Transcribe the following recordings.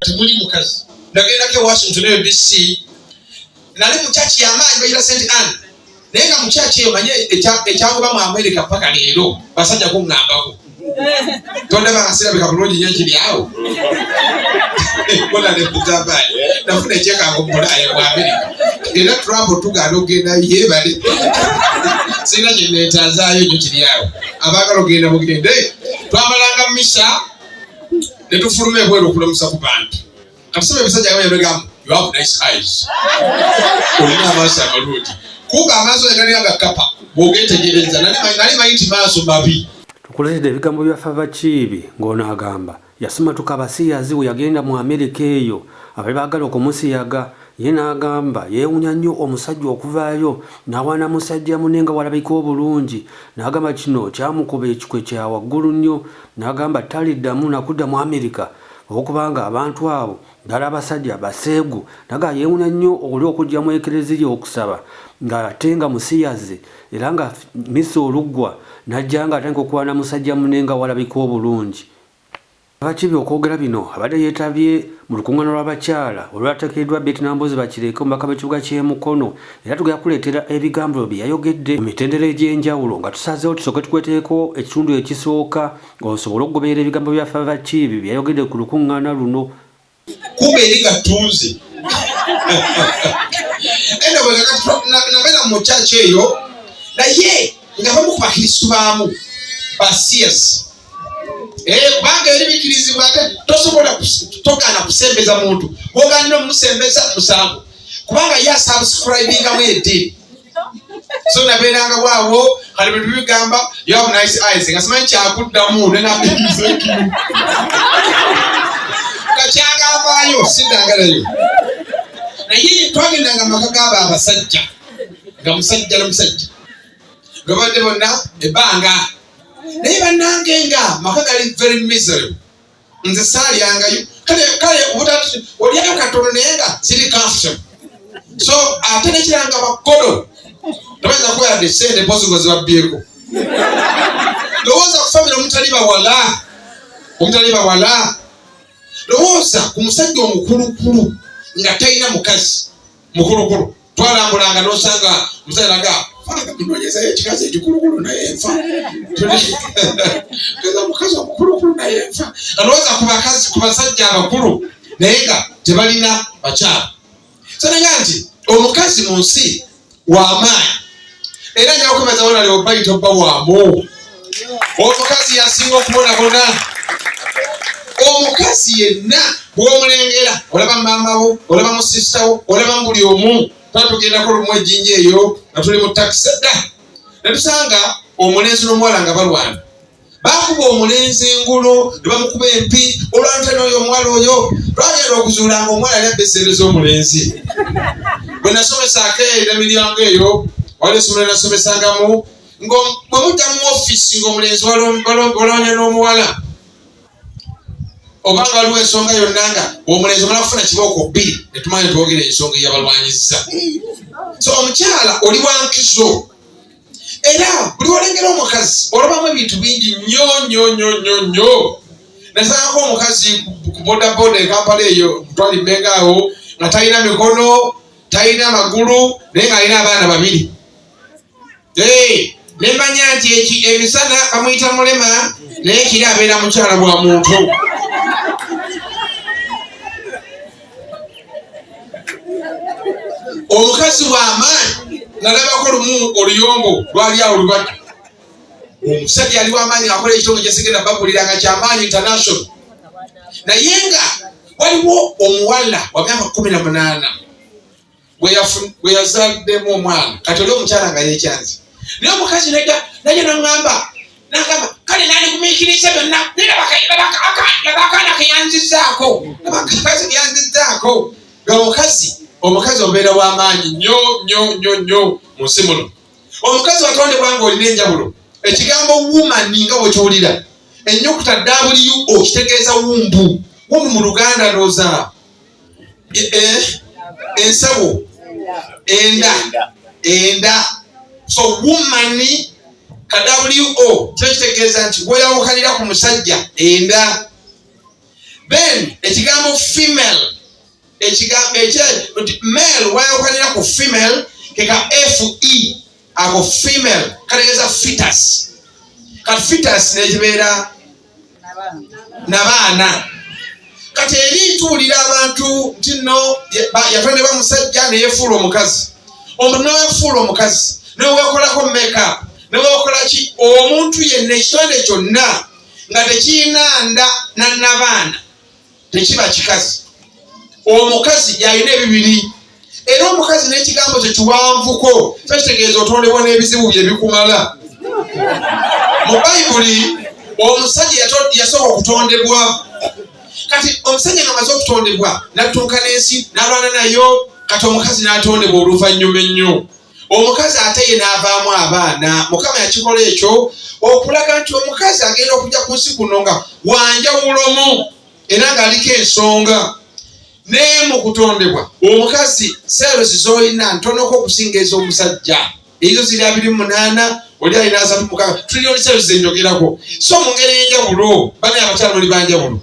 temuli mukazi nagendako e washington eyo dc nali mukyaki yamaanyi bayira st ann naye nga mukyaki eyo manye ekyagoba mu amerika paka leero basajja kuŋambako Tonde ba hasira bika bulungi nyo kiri awo. Bona ne kutamba. Nafuna cheka ko mulaya kwa Amerika. Era Trump tugana ogenda yebale. Sina kye netazayo nyo kiri awo. Abagala ogenda mugende. Twamalanga misha ne tufulume bwero kulamusa ku bantu. Kamusaba ebisajja nga yabegamba you have nice eyes. Olina amaaso amalungi. Kuba amaaso yagalinga nga kapa bw'ogeetegereza nali manyi nti maaso mabi. Tukuleetedde ebigambo bya Fava Kiibi ng'ono agamba yasimatuka abasiyazi we yagenda mu Amerika eyo abali baagala okumusiyaga ye n'agamba yeewunya nnyo omusajja okuvaayo n'awaana musajja mune nga walabika obulungi n'agamba kino kyamukuba ekikwe kya waggulu nnyo n'agamba taliddamu nakudda mu Amerika okubanga abantu abo ddala abasajja baseegu naga yeewuna nnyo oli okujja mu ekereziya okusaba ng'ate nga musiyazi era nga misa oluggwa n'ajja nga atandika okwana musajja mune nga walabika obulungi abakibi okwogera bino abadde yeetabye mu lukuŋŋaana lw'abakyala olwateekeddwa beti nambozi bakireeke omubaka b'ekibuga ky'emukono era tugenda kuleetera ebigambo bye yayogedde mu mitendera egy'enjawulo nga tusazeewo tusooke tukweteeko ekitundu ekisooka Osobole okugoberera ebigambo bya Fava Kiibi bye yayogedde ku lukuŋŋaana luno. Kuba eri nga ttunzi. Eno bwe nga kati nabeera mu kyaki eyo naye nga bamu ku bakristu baamu basiyasi eh, kubanga eri bikirizibwa ate tosobola togaana kusembeza muntu bwoganira omusembeza musango kubanga ye asubscribingamu eddiini so nabeeranga waawo kale bintu bigamba yoabu nice eyes nga simanyi kyakuddamu nenabizeki kakyagambaayo sidangalayo naye twagendanga maka gaaba abasajja nga musajja nomusajja lwebadde bonna ebbanga naye bannange nga maka gali very miserable nze saalyangayo kale kale obutati olyayo katono naye nga ziri comfortable so ate nekiranga bakkodo tobayinza kuba yadde sente mpozi ngo zibabbyeko lowooza ku famire omutali bawala omutali bawala lowooza ku musajja omukulukulu nga talina mukazi mukulukulu twalambulanga nosanga musalaga munonyezayo ekikazi ekikulukulu naye nfa kaza mukazi omukulukulu naye nfa alowooza ku bakazi ku basajja abakulu naye nga tebalina bakyala sananga nti omukazi mu nsi wamaanyi era nja kwebaza wona leo bayi tobba wamu omukazi yasinga okubonabona omukazi yenna bwomulengera olaba maama wo olaba musisita wo olaba mubuli omu tuba tugendako lumu ejinja eyo nga tuli mu takisi dda netusanga omulenzi n'omuwala nga balwana baakuba omulenzi engulu ne bamukuba empi olwante n'oyo omuwala oyo lwagenda okuzuula nga omuwala yali abba esente z'omulenzi bwe nasomesaako eyo emiryango eyo wali esomero nasomesangamu bwe mudda mu ofiisi ng'omulenzi waloonya n'omuwala oba nga waliwo ensonga yonna nga omulenzi omala kufuna kibooko bbiri netumanya twogera ensonga eyabalwanyiza so omukyala oli wankizo era buli olengera omukazi olabamu ebintu bingi nyo nyo nyo nyo nyo nazaako omukazi ku bodaboda ekampala eyo kutwali mbenga awo nga talina mikono talina magulu naye nga alina abaana babiri nemanya nti eki emisana bamuyita mulema naye kiri abeera mukyala bwa muntu omukazi wamaanyi nalabako lumu oluyombo lwali awo lubadde omusajja ali wamaanyi akola ekitono kyesigenda baguliranga kyamaanyi international naye nga waliwo omuwala wa myaka kumi na munaana bwe yazaliddemu omwana kati oli omukyala nga yekyanzi naye omukazi nega naye nangamba nagamba kale nandikumiikiriza byonna naye abakaana keyanzizaako abakazi keyanzizaako nga omukazi omukazi obeera w'amaanyi nyo nyo nyo nyo mu nsi muno omukazi watondebwa nga olina enjawulo ekigambo wumani nga bwekiwulira ennyukuta wbo kitegeeza wumbu wumbu mu luganda ndooza eh, ensawo enda enda so woman kadabuliwo kyo kitegeeza nti weyawukanira ku musajja enda then ekigambo female ekigambo ekye male weyawukanira ku female keka fe ako female kategeeza fitas kati fitas nekibeera nabaana kati eri ntuwulira abantu nti no yatondebwa musajja neyefuula omukazi omuntu newefuula omukazi newekolako makeup newekolaki omuntu yenna ekitonde kyonna nga tekiyina nda nanabaana tekiba kikazi omukazi yalina ebibiri era omukazi n'ekigambo kye kiwanvuko fe kitegeeza otondebwa n'ebizibu bye bikumala mu bayibuli omusajja yasooka okutondebwa kati omusajja nga maze okutondebwa nattunka n'ensi n'alwana nayo kati omukazi n'atondebwa oluvannyuma ennyo omukazi ate ye n'avaamu abaana mukama yakikola ekyo okulaga nti omukazi agenda okujja ku nsi kuno nga wanjawulomu era ng'aliko ensonga naye mu kutondebwa omukazi seerosi z'olina ntonoko okusinga ez'omusajja ezo ziri abiri munaana oli alina asatu mukaaga tulina oluseerosi zenjogerako so mu ngeri enjawulo bana abakyala oli banjawulo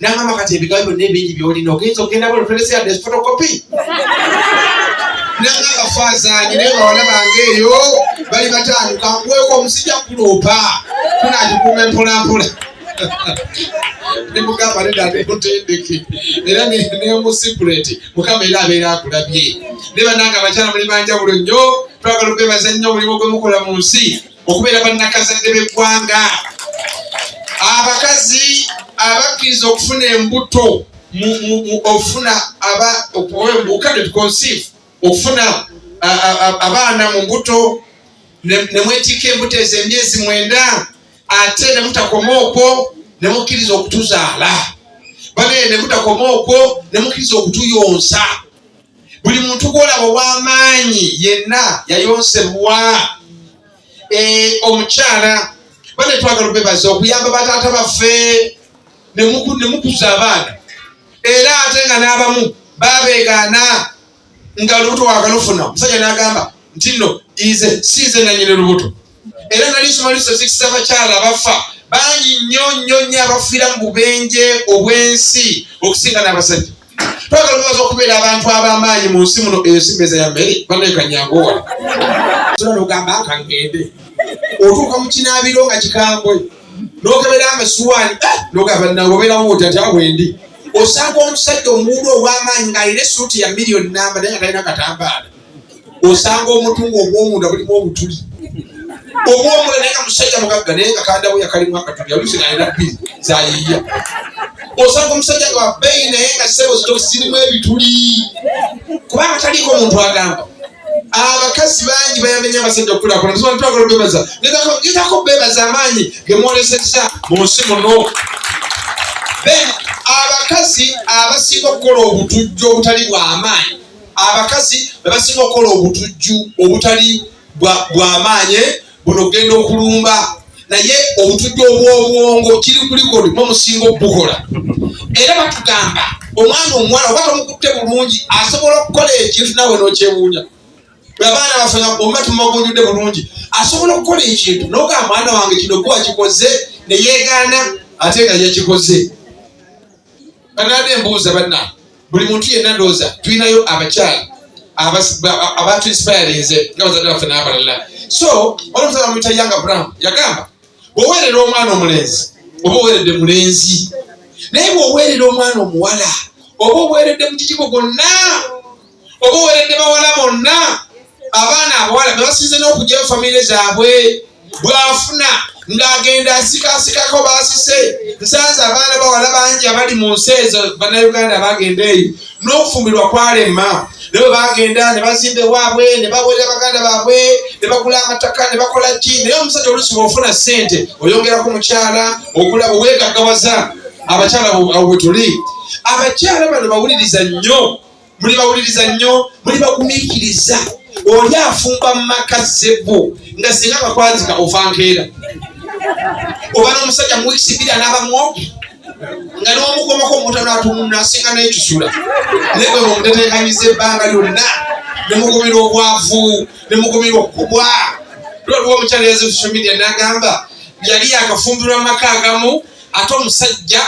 nangamba kati ebigambo byonna ebingi byolina ogenza okugenda bona otolese yadde fotokopi nangamba fazanyi naye bawala bange eyo bali bataano kankuweeko omusijja kuloopa kunagikuuma empolampola nemugamba neda nemutendeke era nemusikuleti mukama era abeera akulabye ne bananga abakyala muli banjawulo nnyo twagala okwebaza nnyo omulimu gwemukola mu nsi okubeera bannakazadde b'eggwanga abakazi abakkiriza okufuna embuto okufuna obukadde tuconceive okufuna abaana mu mbuto nemwetikka embuto ezo emyezi mwenda ate nemutakoma okwo nemukkiriza okutuzaala bane nemutakoma okwo nemukkiriza okutuyonsa buli muntu gwolaba ow'amaanyi yenna yayonsebwa eh, omukyala bane twagala obebaza okuyamba bataata baffe nemukuza abaana era ate nga n'abamu babegaana nga lubuto wagalufuna omusajja n'agamba nti nno ize siize nanyini lubuto era nali nsoma statistics z'abakyala abafa bangi nnyo nnyo nnyo abafiira mu bubenje obw'ensi okusinga n'abasajja twagala obaza okubeera abantu ab'amaanyi mu nsi muno eyo simeza ya mmere banaekanyangu wala tula nogamba akangende otuuka mu kinaabiro nga kikambwe nokebera amasuwaani eh, nogamba nange obeerawo oti ati awo endi osanga omusajja omuwulu ow'amaanyi ng'alina esuuti ya miliyoni namba naye nga talina katambaala osanga omutungo ogwomunda bulimu obutuli obwomula naye nga musajja mugagga naye nga kandawo yakalimu akatuli alusi nalina bbiri zayiya osanga omusajja nga wabeyi naye nga sebo zitosirimu ebituli kubanga taliiko omuntu agamba abakazi bangi bayamenya abasajja okulakola ntitwagala obebaza ngetako bebaza amaanyi gemwoleseza mu nsi muno abakazi abasinga okukola obutujju obutali bwamaanyi abakazi bebasinga okukola obutujju obutali bwamaanyi buno kugenda okulumba naye obutujju obwobwongo kiri kulikodi mumusinga okubukola era batugamba omwana omuwala oba tomukutte bulungi asobola okukola ekintu nawe nokyebuunya abaana bafena oba tumagunjude bulungi asobola okukola ekintu noga mwana wange kino kuba kikoze neyegaana ate nga yakikoze banade embuuza banna buli muntu yenna ndowooza tulinayo abakyala abantu inspirinze nga bazadde baffe n'abalala so olwomusaza bamuyita yanga brown yagamba bwoweerera omwana omulenzi oba oweeredde mulenzi naye bwoweerera omwana omuwala oba oweeredde mu kikigo gwonna oba oweeredde bawala bonna abaana abawala bebasinze n'okugyayo famire zaabwe bwafuna ng'agenda asikasikako baasise nsanze abaana bawala bangi abali mu nsi ezo bannayuganda bagenda eyo n'okufumbirwa kwalema ne bwe bagenda ne bazimba ewaabwe ne baweerera baganda baabwe ne bagula amataka ne bakola ki naye omusajja olusi bwofuna ssente oyongerako mukyala okula bwewegaggawaza abakyala abo bwe tuli abakyala bano bawuliriza nnyo muli bawuliriza nnyo muli bagumiikiriza oli afumba mu maka zebbo nga singa akakwazika ofa nkeera oba n'omusajja mu wiisi bbiri anabamu nga n'omukomako omuntu natununa asinga n'ekisula naye gwe mumuteteekanyiza ebbanga lyonna ne mugumira obwavu ne mugumira okukubwa lwaliwo omukyala yaze social media n'agamba yali yakafumbirwa mu maka agamu ate omusajja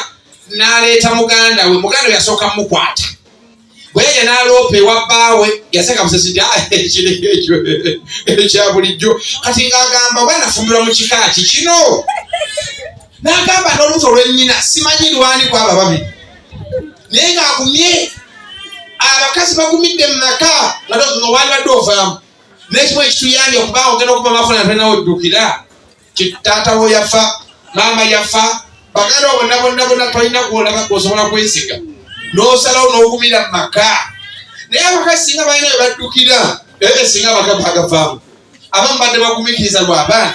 n'aleeta muganda we muganda we yasooka mukwata bweyeye naloopa ewa bbaawe yaseka musasi ti ah, ekiri ekyo ekya bulijjo kati ng'agamba oba nafumirwa mu kika ki kino n'agamba n'olubuto olwennyina simanyi lwani ku abo ababiri naye ng'agumye abakazi bagumidde mu maka nga wandibadde ovaamu n'ekimu ekituyambye okubanga ogenda okuba mafuna ntenawo ddukira taata wo yafa maama yafa baganda bonna bonna bonna tolina gwolaba gwosobola kwesiga nosalawo nogumira mu maka naye abakazi singa balina bebaddukira ebyo singa abagava agavaamu abamu badde bagumikiriza lwabaana